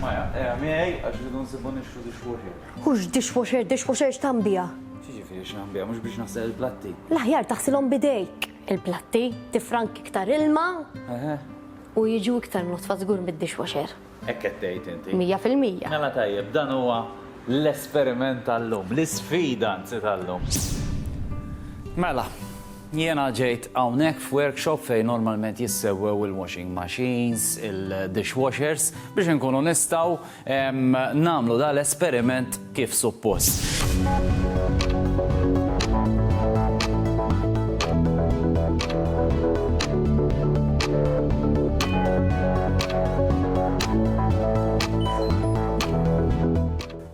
Maya, eja miegħi għax rridu nsibu nixtru dishwasher. Hux dishwasher, dishwasher x'tagħmbiha? X'jiġifieri x'nagħmbiha, mhux biex naħsel il-platti? L-aħjar taħsilhom b'idejk il-platti, tifrank iktar ilma. Eħe. U jiġu iktar nodfa żgur mid-dishwasher. Hekk qed tgħid inti. Mija fil-mija. Mela tajjeb, dan huwa l-esperiment tal-lum, l-isfida anzi tal-lum. Mela. Jiena ġejt hawnhekk f'workshop fejn normalment jissewwew il-washing machines, il-dishwashers, biex inkunu nistgħu nagħmlu dan l-esperiment kif suppost.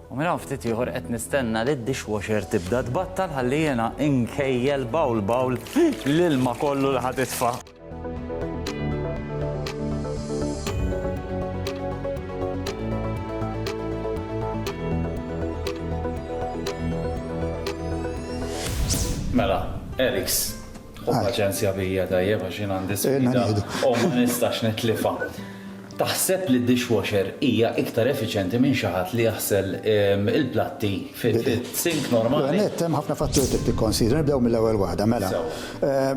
U minn hawn ftit ieħor qed nistenna li d-dishwasher tibda tbattal ħalli jiena nkejjel bawl bawl l-ilma kollu li ħa titfa'. Mela, Eriks, ħu paċenzja bija tajjeb għax jien għandi sfida u ma nistax nitlifha. Taħseb li d-dishwasher hija iktar effiċjenti minn xi ħadd li jaħsel il-platti fis-sink normali? L-ewwel nett, hemm ħafna fatturi trid tikkonsidra. Nibdew mill-ewwel waħda, mela.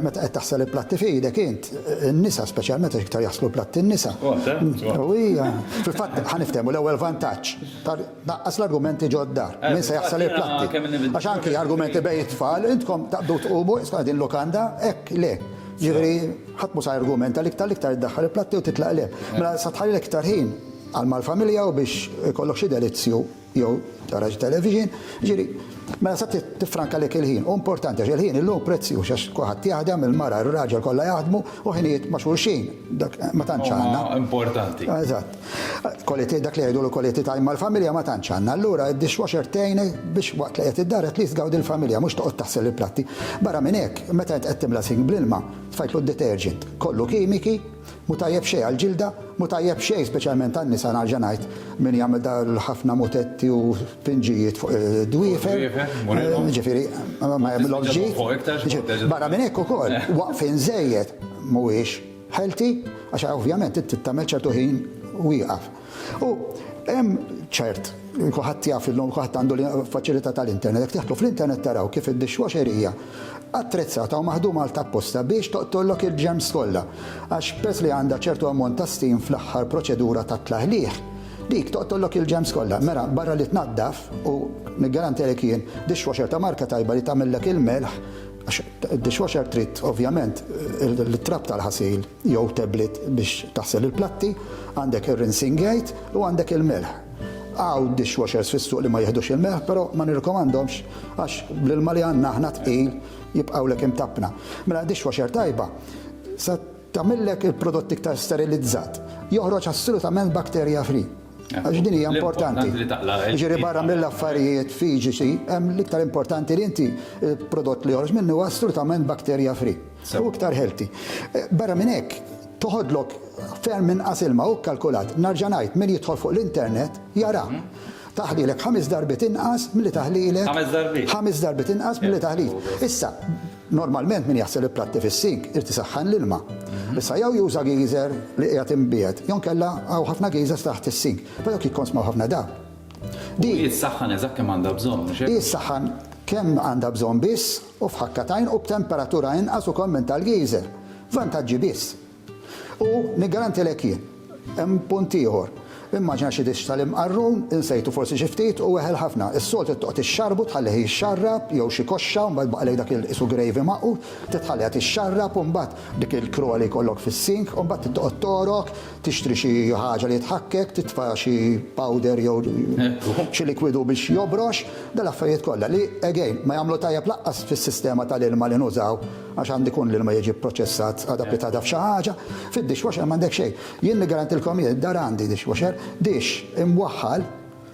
Meta qed taħsel il-platti f'idek int, in-nisa speċjalment għax iktar jaħslu l-platti n-nisa. U hija, fil-fatt, ħa niftehmu, l-ewwel vantaġġ, tnaqqas l-argumenti ġo d-dar. Min se jaħsel il-platti? Għax anki argumenti bejn it-tfal, intkom taqbdu tqumu, isma' din lukanda, hekk, le. Jiġifieri. Ħadd mhu sa jargumenta li iktar l-iktar iddaħħal il-platti u titlaq il-hemm. Mela sa tħalli l-iktar ħin għal mal-familja u biex ikollok xi delizzju jew tara xi television, jiġifieri mela sa tiffranka lik il-ħin. Hu importanti għax il-ħin illum prezzjuż għax kulħadd jaħdem, il-mara, ir-raġel kollha jaħdmu u ħinijiet ma' xulxin dak ma tantx għandna. Huma importanti. Eżatt. Quality dak li jgħidu l-quality time mal-familja ma tantx għandna. Allura d-dishwasher tgħinek biex waqt li qiegħed id-dar at least tgawdi l-familja mhux toqgħod taħsel il-platti. Barra minn hekk, meta int qed timla sink bl-ilma, Tfajtlu d-detergent, kollu kimiki, mhu tajjeb xejn għall-ġilda, mhu tajjeb xejn speċjalment għan-nisa nerġa' ngħid, min jagħmel dal-ħafna mutetti u finġijiet fuq id-dwiefer, jiġifieri ma jagħmilhomx ġid. Barra minn hekk ukoll, waqfien żejjed mhuwiex healthy għax ovvjament inti tagħmel ċertu ħin wieqaf. U hemm ċert, kulħadd jaf illum kulħadd għandu l-faċilità tal-internet, jekk tidħlu fl-internet taraw kif id-dishwasher hija attrezzata u maħduma għal tapposta biex toqtollok il-ġerms kollha. Għax peress li għandha ċertu ammont ta' steam fl-aħħar proċedura tat-tlaħliħ, dik toqtollok il-ġerms kollha. Mela barra li tnaddaf u niggarantilek jien dishwasher ta' marka tajba li tagħmillek il-melħ għax id-dishwasher trid ovvjament it-trab tal-ħasil. jew tablet biex taħsel il-platti, għandek ir-rinsing aid u għandek il-melħ. Hawn dishwashers fis-suq li ma jiħdux il-melħ però ma nirrikomandhomx għax bl-ilma li għandna aħna tqil jibqgħulek imtappna. Mela dishwasher tajba se tagħmillek il-prodott iktar sterilizzat. Joħroġ assolutament bacteria free. Għax din hija importanti. Ġiri barra mill-affarijiet fiġiċi, hemm l-iktar importanti li inti prodott li joħroġ minnu assolutament bakterja free u iktar healthy. Eh, barra minn hekk, toħodlok ferm minn qasilma u kalkulat, narġa' ngħid min jidħol fuq l-internet jara. Mhm. Taħlilek ħames darbit inqas milli taħlilek. Ħames darbit. Ħames darbit inqas milli taħlilek. Issa, Normalment min jaħsel il-platti fis-sink irid isaħħan l-ilma. Issa jew juża geyser li qiegħed imbiegħed jew inkella hawn ħafna geysers taħt is-sink, però dawk jikkonsmaw ħafna dawl. Din. U hi ssaħħan eżatt kemm għandha bżonn, mhux hekk? Hi ssaħħan kemm għandha bżonn biss u f'ħakka t'għajn u b'temperatura inqas ukoll minn tal-geyser. Vantaġġi biss. U niggarantilek jien. Hemm punt ieħor. Immaġina xi dixx tal-imqarrun, insejtu forsi xi ftit, u weħel ħafna. Is-soltu trid toqgħod ixxarrbu tħallih jixxarrab, jew xi koxxa, u mbagħad jbaqgħalek dak il-qisu gravy magħqud, trid tħalliha tixxarrab, u mbagħad dik il-krua li jkollok fis-sink, u mbagħad trid toqgħod togħrok, tixtri xi ħaġa li tħakkek, titfa' xi powder jew xi likwidu biex jobrox, dal-affarijiet kollha, li, again, ma jagħmlu tajjeb lanqas fis-sistema tal-ilma li nużaw. Għax għandu jkun l-ilma jiġi pproċessat, adapitata f'xi ħaġa. Fid-dishwasher m'għandek xejn. Jien niggarantilkom jien id-dar għandi dishwasher, dish imwaħħal,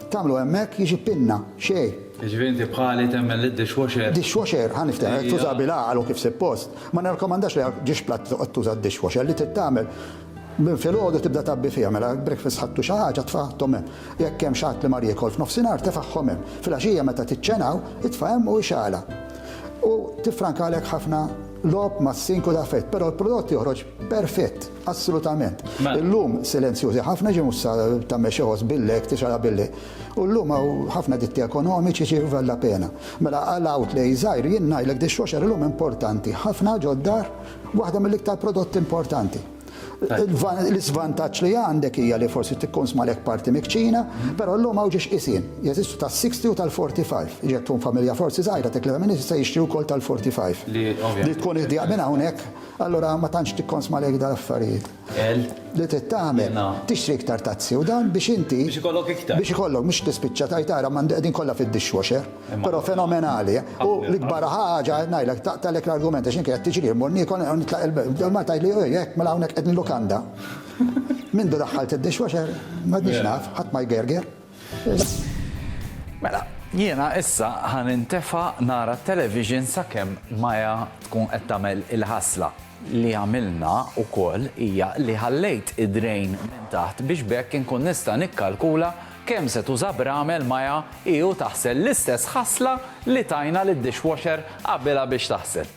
tagħmlu hemmhekk jiġi pinna, xejn. Jiġifieri inti bħali temmen li d-dishwasher. Dishwasher, ħa niftehmu, jekk tuża bil-għaqal u kif sippost, ma nirrakkomandax li għal dish platt toqgħod tuża d-dishwasher, li trid tagħmel Minn filgħodu tibda tgħabbi fiha, mela jekk breakfast ħadtu xi ħaġa tfagħhom hemm. Jekk hemm xi ħadd li mar jiekol f'nofsinhar tefagħhom hemm. Filgħaxija meta tiċċenaw, itfa' hemm u ixgħalha. U tiffrankalek ħafna logħob mas-sink u daf'hekk, però l-prodott joħroġ perfett, assolutament. Illum silenzjużi ħafna jiġifieri mhux sa tagħmel xi ħoss billek, tixgħalha billek. U llum hawn ħafna ditti ekonomiċi jiġifieri vallapena. Mela għal outlays żgħir jien ngħidlek dishwasher illum importanti ħafna ġod-dar. Waħda mill-iktar prodotti importanti. L-isvantaġġ li għandek hija li forsi tikkun smalek parti mikċina, però llum hawn ġiex qisin. Jeżistu tas-60 u tal-45. Ġek tkun familja forsi żgħira tek li minn se jixtri wkoll tal-45. Li tkun idea minn hawnhekk, allura ma tantx tikkonsma lejk dal-affarijiet. li trid tagħmel, tixtri iktar tazzi u dan biex inti. Biex ikollok iktar. Biex ikollok mhux tispiċċa tgħid ara m'għandi qegħdin kollha fid-dishwasher. Però fenomenali. U l-ikbar ħaġa ngħidlek taqtgħalek l-argument għax inkella tiġri mmur niekol nitlaq il-belt. Ma tgħidli hekk mela hawnhekk qed nilukanda. Mindu daħħalt id-dishwasher m'għadniex naf, ħadd ma jgerger. Mela, jiena issa ħa nintefa' nara t-television sakemm Maya tkun qed tagħmel il-ħasla. li għamilna wkoll hija li ħallejt id-drain minn taħt biex b'hekk inkun nista' nikkalkula kemm se tuża bramel maja hi u taħsel l-istess ħasla li tajna lid-dishwasher qabilha biex taħsel.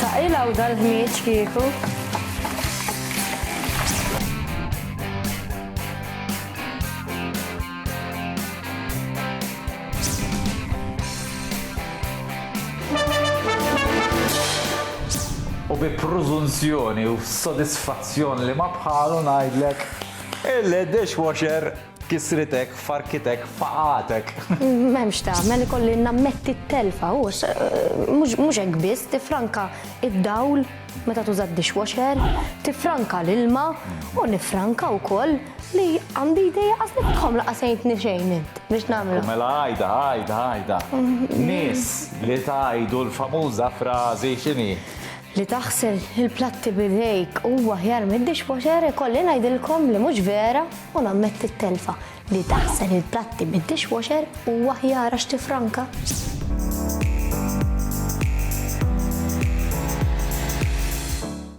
Taqilaw dal-ħmieġ kieku. bi prużunzjoni u sodisfazzjon li ma bħalu ngħidlek il-dishwasher Kisritek, farkitek, faqatek. M'hemmx tagħmel ikolli nammetti t-telfa u mhux hekk biss tifranka id-dawl meta tuża d-dishwasher, tifranka l-ilma u nifranka wkoll li għandi idea qas li tħom la qasejtni xejn int biex nagħmlu. Mela għajda, għajda, għajda. Nies li tgħidu l-famuża frażi x'inhi? Li taħsel il-platti b'idejk huwa aħjar mid-dishwasher ikolli ngħidilkom li mhux vera u nammetti t-telfa. Li taħsel il-platti bid-dishwasher huwa aħjar għax tiffranka.